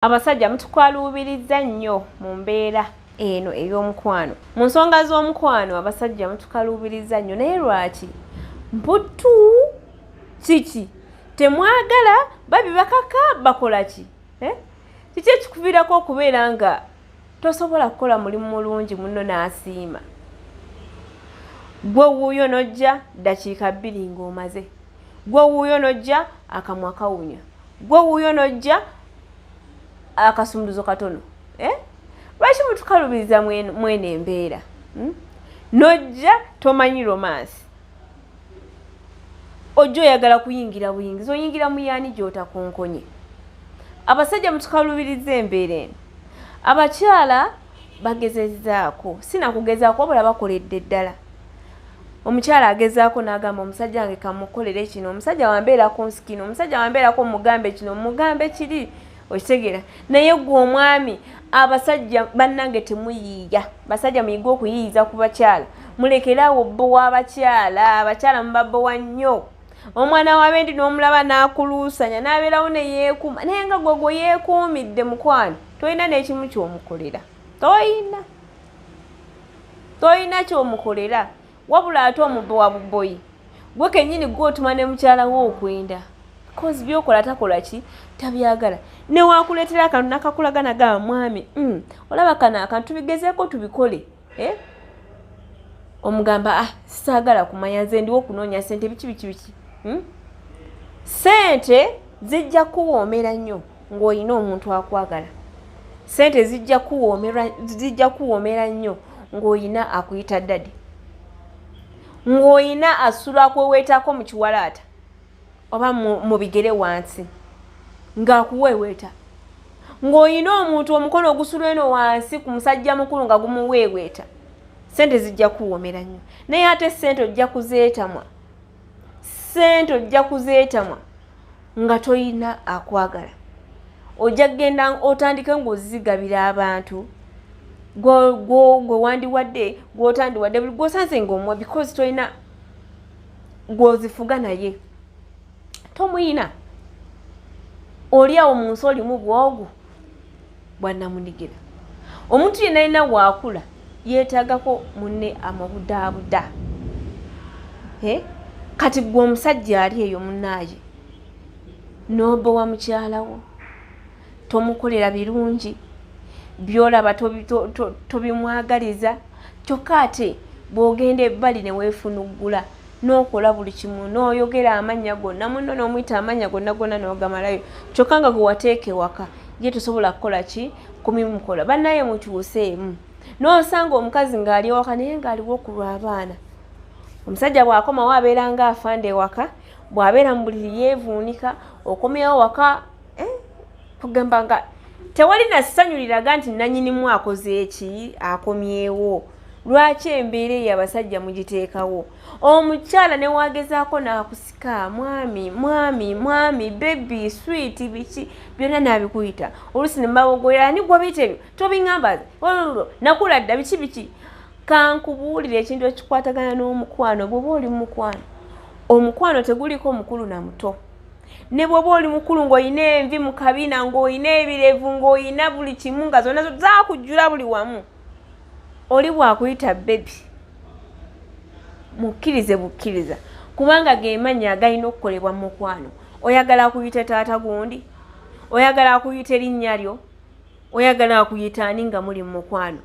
Abasajja mutukwaluubirizza nnyo mu mbeera eno ey'omukwano. Mu nsonga z'omukwano abasajja mutukaluubirizza nnyo naye lwaki? Mputtu kiki? Temwagala babi bakaka bakola ki? Eh? Kiki ekikuviirako okubeera nga tosobola kukola mulimu mulungi munno n'asiima? Gwe wuuyo n'ojja ddakiika bbiri ng'omaze. Gwe wuuyo n'ojja akamwa kawunya. Gwe wuuyo n'ojja. akasumuluzo katono eh? lwaki mutukalubiriza mwena embeera hmm? nojja tomanyi romansi ojja oyagala kuyingira buyingizi oyingira muyaani gyotakonkonye abasajja mutukalubiriza embeera eno abakyala bagezezaako sinakugezaako wabula bakoledde ddala omukyala agezaako n'agamba omusajja wange kamukolere kino omusajja wambeerako nsikino omusajja wambeerako mugambe kino mugambe kiri okitegeera naye gwe omwami abasajja bannange temuyiiya basajja muyige okuyiiyiza ku bakyala mulekeraawo bbo w'abakyala abakyala mubabbowa nnyo omwana wabendi n'omulaba n'akuluusanya n'abeerawo ne yeekuuma naye nga gwegwe yeekuumidde mukwano tolina n'ekimu ky'omukolera tolina tolina kyomukolera wabula ate omubbe wa buboyi gwe kenyini gwe otuma ne mukyala we okwenda kozi byokola takola ki tabyagala newakuleetera akantu nakakulagana ga mwami mm, olaba kano akantu tubigezeeko tubikole eh? omugamba ah, saagala kumanya nze ndiwo okunoonya sente biki biki biki hmm? sente zijja kuwoomera nnyo ng'olina omuntu akwagala sente zijja kuwoomera nnyo ng'olina akuyita dadi ng'olina asula akweweetaako mu kiwalaata oba mu bigere wansi ng'akuweeweeta ng'olina omuntu omukono ogusula eno wansi ku musajja mukulu nga gumuweeweeta sente zijja kuwoomera nnyo naye ate sente ojja kuzeetamwa sente ojja kuzeetamwa nga tolina akwagala ojja kugenda otandike ng'ozigabira abantu gwe wandiwadde gwotandiwadde buli gwosanze ngaomwa because tolina gwozifuga naye tomuyina oli awo mu nsi olimu bwogu bwanamunigina omuntu yenna yenna waakula yeetagako munne amubudaabuda kati gwe omusajja ali eyo munaaye nobowa mukyalawo tomukolera birungi byolaba tobimwagaliza kyokka ate bwogenda ebbali neweefunuggula n'okola buli kimu n'oyogera amannya gonna munno n'omuyita amannya gonna gonna n'ogamalayo kyokka nga gwe wateeka ewaka ye tosobola kukola ki kumimukola bannaye mukyuseemu n'osanga omukazi ng'ali ewaka naye ng'aliwo okulwa abaana omusajja bw'akomawo abeera nga afanda ewaka bw'abeera mu buliri yeevuunika okomyawo waka eh, kugamba nga tewali na ssanyu liraga nti nanyinimu akoze eki akomyewo lwaki embeera eyo abasajja mugiteekawo omukyala newagezaako nakusika mwami mwami mwami bebi switi biki byonna nabikuyita olusi nemabogoya ani gwabiyita ebyo tobiŋamba nakula dda biki biki kankubuulira ekintu ekikwatagana n'omukwano bwoba oli mukwano omukwano teguliiko mukulu na muto ne bwoba oli mukulu ng'olina envi mu kabina ng'olina ebirevu ng'olina buli kimu nga zonna zakujjula buli wamu oli bwakuyita bebi mukkirize bukkiriza kubanga gemannya agalina okukolebwa mu mukwano oyagala kuyita taata gundi oyagala kuyita erinnya lyo oyagala akuyita ani nga muli mumukwano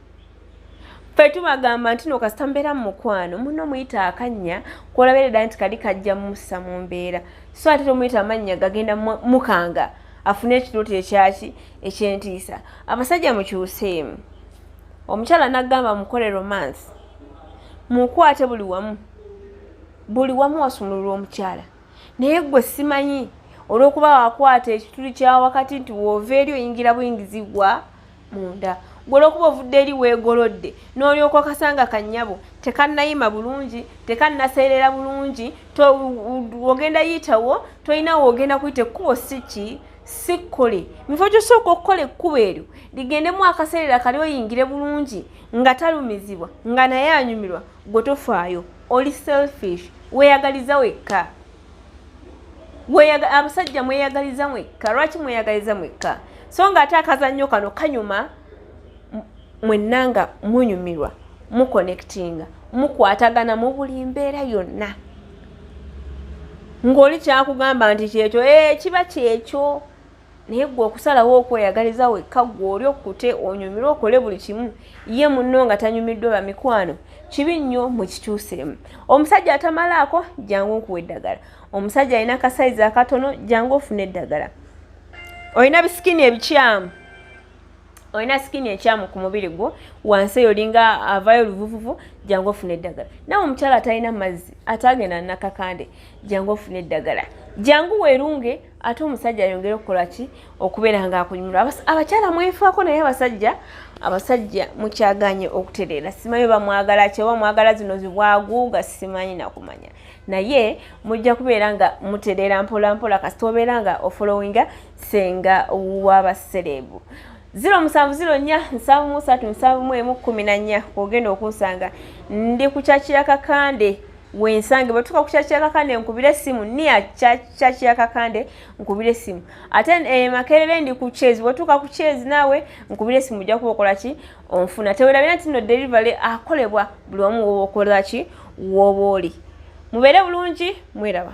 fe tubagamba nti no kasita mbeera mu mukwano muno muyita akannya kwolabeereda nti kali kajja mussa mu mbeera so ate tomuyita amannya gagenda mukanga afune ekirooto ekyaki ekyentiisa abasajja mukyuseemu omukyala nagamba mukole romance mukwate buli wamu buli wamu wasumululwa omukyala naye gwe simanyi olwokuba wakwata ekituli kyawakati nti woova eri oyingira buyingizi gwa munda gwe olwokuba ovudde eri weegolodde n'olyoka okasanga kannyabo tekannayima bulungi tekannaseerera bulungi ogenda yitawo tolinawo ogenda kuyita ekkubo si ki sikkole mifo gyosooka okukola ekkubo eryo ligendemu akaseerera kali oyingire bulungi nga talumizibwa nga naye anyumirwa gwe tofaayo oli selfish weyagaliza wekka abasajja mweyagaliza mwekka lwaki mweyagaliza mwekka so nga ate akazannyo kano kanyuma mwenna nga munyumirwa mukonectinga mukwatagana mu buli mbeera yonna ng'oli kyakugamba nti kyekyo ee eh, kiba kyekyo naye gwe okusalawo okweyagaliza wekka gwe oli okkute onyumirwe okole buli kimu ye munno nga tanyumiddwa bamikwano kibi nnyo mukikyuseemu omusajja atamalaako jangu nkuwa eddagala omusajja alina kasayizi akatono jangu ofuna eddagala olina bisikini ebikyamu olina sikini ekyamu ku mubiri gwo wansi eyo olinga avayo oluvuvuvu jangu ofuna eddagala nawe omukyala atalina mazzi ate agenda nakakande jangu ofuna eddagala jangu werunge ate omusajja ayongere okukola ki okubeera nga akunyumira abakyala mwefaako naye abasajja abasajja mukyaganye okutereera simanyi bamwagala kyoba mwagala zino zibwaguuga simanyi nakumanya naye mujja kubeera nga mutereera mpolampola kasita obeera nga ofolowinga senga wabasereebu ziro musanvu ziro nnya nsanvu musatu nsanvu mu emu kkumi na nnya ogenda okunsanga ndi kukyakira kakande wensange bwetuka ku kyakya kakande nkubira essimu niya kyakya kakande nkubira essimu ate eh, makerere ndi ku chezi bwetuka ku chezi naawe nkubira essimu ojja kuba okola ki onfuna tewerabira nti no delivery akolebwa buli omu woba okola ki woba oli mubeere bulungi mweraba